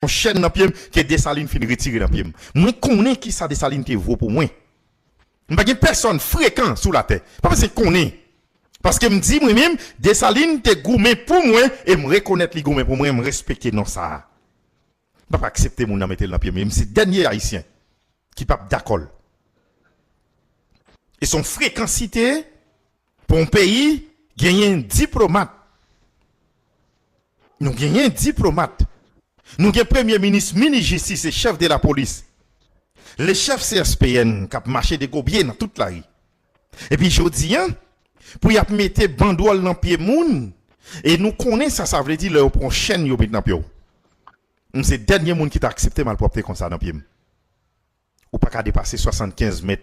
Yon chèn nan pye m ke Desalin fin retire nan pye m. Mwen konnen ki sa Desalin te vo pou mwen. M pa gen pèsòn frekan sou latè. Pa bezwen konnen. Paske m di mwen menm, Desalin te goumen pou mwen e m rekonèt li goumen pou mwen, m respekte non sa a. M pa p aksepte moun nan mete l nan pye m e m se dènye Ayisyen ki pa p dakò l. E se yon frekansite. Pou yon peyi genyen diplomat, nou genyen diplomat, nou gen premye minis, minis jistis e chèf de la polis, le chèf CSPN k ap mache degobye nan tout lari. Epi jodi an, pou y ap mete bandwòl nan pye moun e nou konnen sa sa vle di lè yo pran w chenn yo met nan pye w. M se dènye moun ki ta aksepte malpwòpte konsa nan pye m. Ou paka depase 75 mèt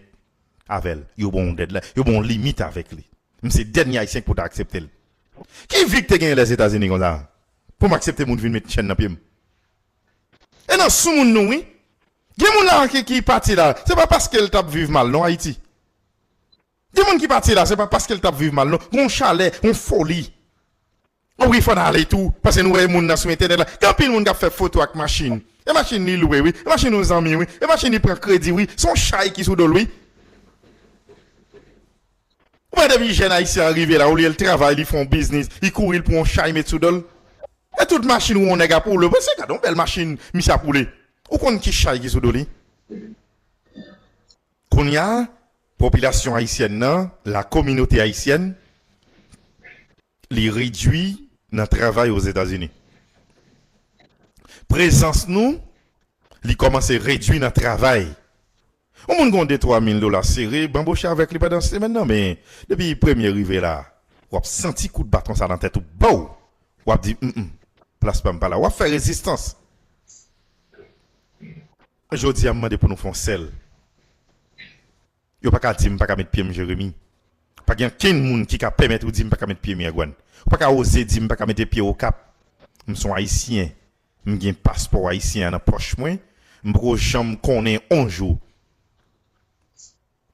avèl. Yo ban w dèdlay, yo ban w limit avèk li. M se dènye Ayisyen k pou ta aksepte l. Ki vi k te genyen Lèzetazini konsa pou m aksepte moun vin met chèn nan pye m? E nan soumoun nou wi. Gen moun la a ki pati la, se pa paske l t ap viv mal non Ayiti. Gen moun ki pati la se pa paskel tap viv mal non gon chalè yon foli oh wi fòn ale tou paske nou wè moun nan sou entènèt la gen anpil moun kap fè foto ak machin e machin li lwe wi e machin yon zanmi wi e machin li pran kredi wi son chay ki sou dol wi ou wè depi jèn ayisyen an rive la olyel travay li fon biznis li kouri li pran yon chay met sou dol e tout machin wè yon nèg ap woule wè se gade yon bèl machin misye ap woule ou konn ki chay ki sou do li. Kounya popilasyon ayisyèn nan, la kominote ayisyèn, li redwi nan travay Ozetazini. Prezans nou, li kòmanse redwi nan travay. Yon moun gon de twa mil dola sere, banboche avèk li pandan semèn nan men depi premye rive la, w ap santi kout baton sa nan tèt ou baww! W ap di, Mnm, plas pa m pa la. W ap fè rezistans. Jodi a m mande pou nou fè yon sèl Yo pa ka di m pa ka met pye m Jeremi Pa gen ankenn moun ki ka pèmèt ou di m pa ka met pye Miragwàn Ou pa ka oze di m pa ka mete pye Okap M s on Ayisyen M gen paspò Ayisyen an nan pòch mwen M poko janm konnen on jou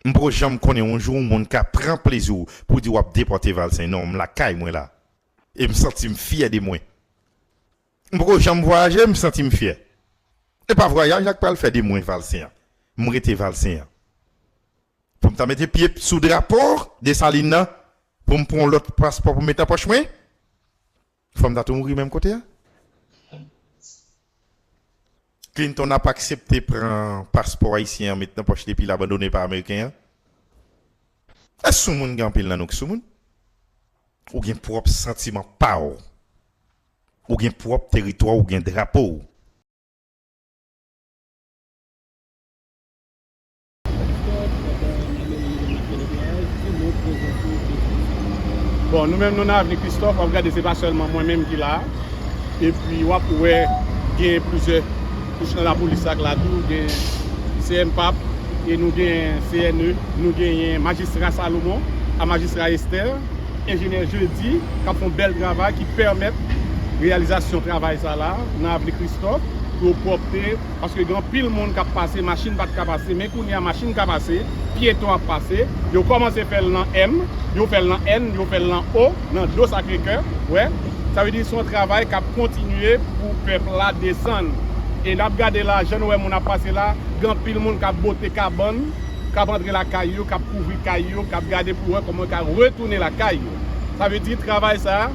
M poko janm konnen on jou on moun ka pran plezi w pou w di w ap depòte Valsen Non m lakay mwen la E m santi m fyè de mwen M poko janm vwayaje m santi m fyè e pa vwayaj la k pral fè de mwen valsen an m rete valsen an pou m ta mete pye sou drapo Desalin nan pou m pran w lòt paspò pou m met nan pòch mwen fò m ta tou mouri menm kote a Clinton ap aksepte pran paspò ayisyen an met nan pòch li epi l abandone pa ameriken an Èske soumoun gen anpil nan nou ki soumoun ou gen pwòp santiman pa w. Ou gen pwòp teritwa w ou gen drapo w. Bon nou menm nou nan avni kristòf wap gade se pa sèlman mwen menm ki la epi wap wè gen plizyè kouch nan lapolis sak la tou gen cmpap e nou gen cne nou genyen majistra salomon a majistra esther. Enjenyè Jeudy k ap fè yon bèl travay ki pèmèt reyalizasyon travay sa la nan avni Kristòf, dlo pwòpte, paske gen anpil moun k ap pase, machin pa t ka pase, men kounye a machin ka pase, pyeton ap pase, yo kòmanse fè l nan M, yo fè l nan N, yo fè l nan O, nan dlo Sakrekè, ou wè, sa vle di se yon travay k ap kontinye pou pèp la desann, e n ap gade la, jan nou wè moun ap pase la, gen anpil moun k ap bote kabann. k ap antre lakay yo, k ap kouvri kay yo, k ap gade pou wè kòman yo ka retounen lakay yo. Sa vle di travay sa a,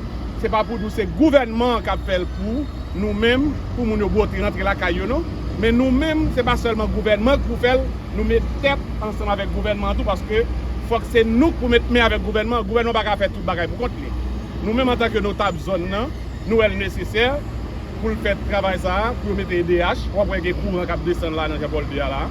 se pa pou nou se gouvènman an k ap fè l pou nou menm, pou moun yo bwote rantre lakay yo non. Men nou menm, se pa sèlman gouvènman an k pou fè l, nou met tèt ansanm avèk gouvènman an tou paske fòk se nou k pou met men avèk gouvènman an. Gouvènman an pa ka fè tout bagay pou kont li. Nou menm antanke notab zòn nan, nou wè l nesesè. pou l fè travay sa a, pou yo mete edh, w ap wè gen kouran k ap desann la nan Jan Pòl 2 a la.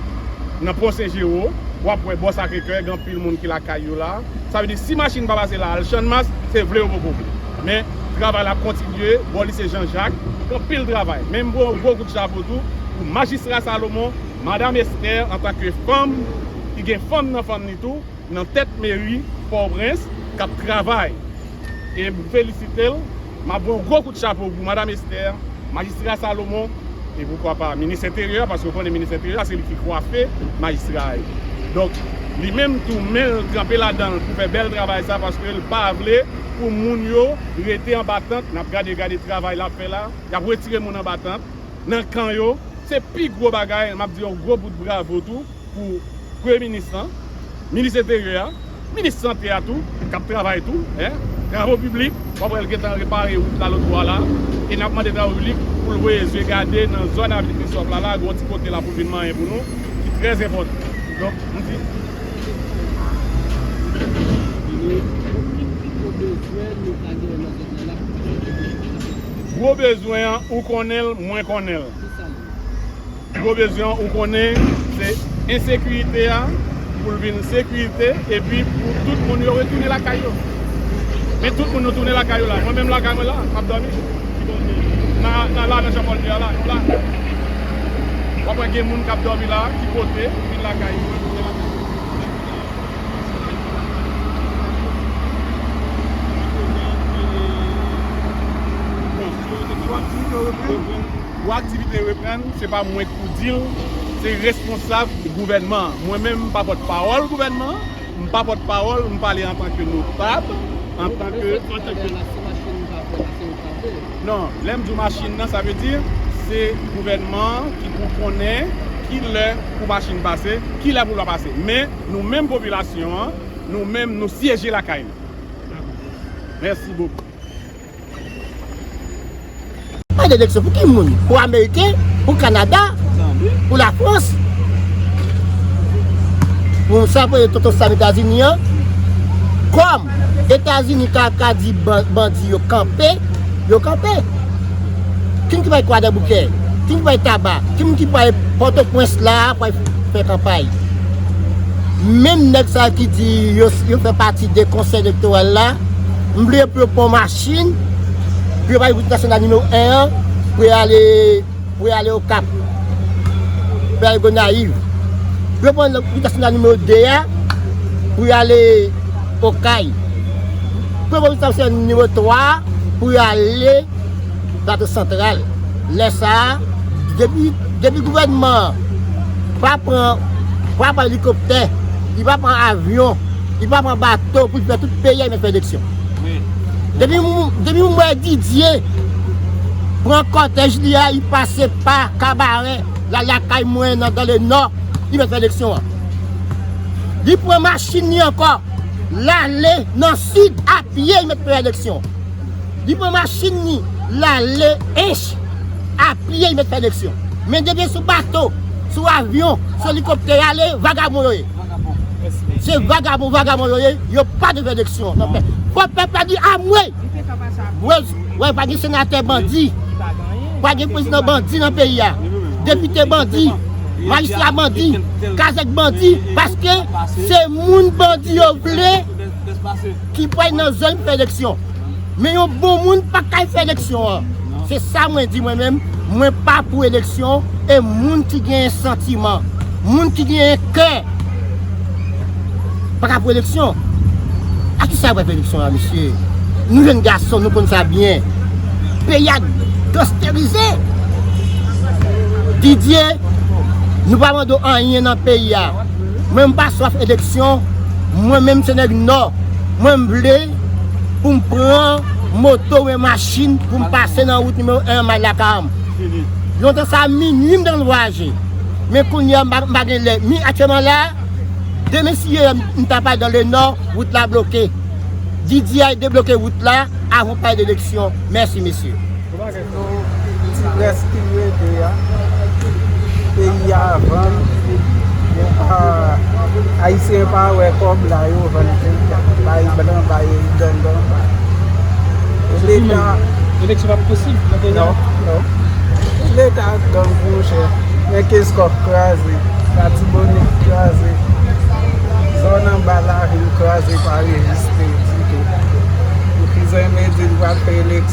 Nan Pon Sen Jero, w ap wè bò Sakre Kè, gen anpil moun ki lakay yo la. Sa vle di si machin pa pase la al Channmas, se vle ou poko vle. Men, travay la ap kontinye, bò Lise Jan Jak, gen anpil travay. Men m voye yon gwo kout chapo tou pou Majistra Salomon, Madam Esther antanke fanm ki gen fanm nan fanm li tou, nan tèt Meri Pòtoprens, k ap travay. E m felisite l. M ap voye yon gwo kout chapo pou Madam Esther, Majistra Salomon, e poukwa pa Minis Enteryè a, paske ou konnen Minis Enteryè a se li ki kwafe Majistra a ye. Donk, li menm tou men l tranpe ladan l pou fè bèl travay sa a paske l pa vle pou moun yo rete anba tant. N ap gade, gade travay l ap fè la. Y ap retire moun anba tant, nan kan yo. Se pi gwo bagay. M ap di yon gwo bout bravo tou. pou premye minis lan, minis enteryè a, minis sante a tou kap travay tou, travo piblik wap wèl gentan repare wout la lotbò a la, e nap mande travo piblik poul voye zye gade nan zòn avni Christophe la la gen yon ti kote la poul vin manyen pou nou ki trè enpòtan donk m di gwo bezwen an ou konnenl mwen konnenl. Pi gwo bezwen ou konnen se ensekirite a pou l vin sekirite epi pou tout moun yo retounen lakay yo. Men tout moun nou tounen lakay yo la. Mwen menm lakay mwen la a, m ap dòmi. Ki kote? Nan la nan Janpòl 2 a la a, nou la. W ap wè gen moun k ap dòmi la a ki pote pou vin lakay yo, retounen lakay yo. Kote yo te pran? Kote yo te pran? Pou aktivite reprann, se pa mwen ki pou di l, se responsab gouvènman an. Mwen menm m pa pòt pawòl gouvènman an, m pa pòt pawòl, m pale an tan ke notab, an tan ke. Mwen fèk pale a la, si machin n pa fè la, se yo k pa fè. Non, lè m di w machin nan, sa vle di se gouvènman an ki pou konnen ki lè pou machin pase, ki lè pou l pa pase. Men, nou menm popilasyon an, nou menm nou syeje lakay nou. Mèsi bokou. Bay direksyon pou ki moun? Pou ameriken? Pou kanada? Pou la frans? Pou sa pou e tonton sam etazini an? Kom etazini ka ka di bandi yo kanpe, yo kanpe. Ki moun ki bay kwa deboukè? Ki moun ki bay taba? Ki moun ki bay poto pwens la pou al fè kanpay? Menm nèg sa ki di yo fè pati de konsèy elektoral la. M vle pou yo pran yon machin, pou yo pale wout nasyonal nimewo 1 an, pou yo ale, pou yo ale Okap, pou yo ale Gonayiv. Pou yo pran wout nasyonal nimewo 2 a, pou yo ale Okay. Pou yo pran wout nasyonal nimewo 3 a, pou yo ale Plato Santral. Lè sa a, depi, depi gouvènman an pa pran, pa pran elikoptè, li pa pran avyon. Li pa pran bato pou li fè tout peyi a li mèt fè eleksyon. Depi moun wè Didier pran kòtèj li a li pase pa kabarè la lakay mwen nan dan le nò li mèt fè eleksyon an. Li pran machin li ankò lale nan sid a pye li mèt fè eleksyon. Li pran machin li lale ench a pye li mèt fè eleksyon. Men depi sou bato, sou avyon, sou elikoptè yale vagabon yo ye. Se vagabon vagabon yo ye, yo pa devè eleksyon nan pèp. Fò pèp la di amwey! Wè pa gen senatè bandi, pa gen prezidan bandi nan peyi a, depite bandi, majistra bandi, kazèk bandi, paske se moun bandi yo vle ki pou al nan zòn pou fè eleksyon. Men yon bon moun pa kay fè eleksyon an. Se sa mwen di mwen menm, mwen pa pou eleksyon e moun ki genyen santiman, moun ki genyen kè pa ka pou eleksyon. A ki sa yo pral fè eleksyon la mesye? Nou jenn gason nou konn sa byen. Peyi a gansterize. Didye, nou pa mande w anyen nan peyi a. Mwen m pa swaf eleksyon, mwen menm se nèg nò. Mwen m vle. pou m pran moto oubyen machin pou m pase nan wout nimewo 1 an m al lakay m. Lontan sa a minui m te konn vwayaje. Men kounye a m pa gen lè. Men aktyèlman la a, demen si ye m ta pral dan le nò, wout la bloke. DDI debloke wout la avan w pale de eleksyon. Mèsi mesye. Yo ti rès ki rete a peyi a vann yo pa ayisyen pa wè kòb la yo vann peyi a bay blan bay gangan bay leta eleksyon pap posib nan peyi a non non leta ak gang monchè men keskòf kraze latibonit kraze zòn anba lavil kraze pa reziste ditou pou ki zen me di l pral fè eleksyon.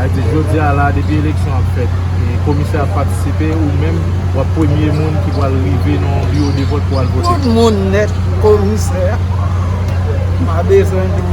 Ayiti jodi a la depi eleksyon ap fèt e komisè ap patisipe ou menm wap premye moun ki pwal rive nan yon biwo de vòt pou al vote. Tout moun nèt komisè pa bezwen nou.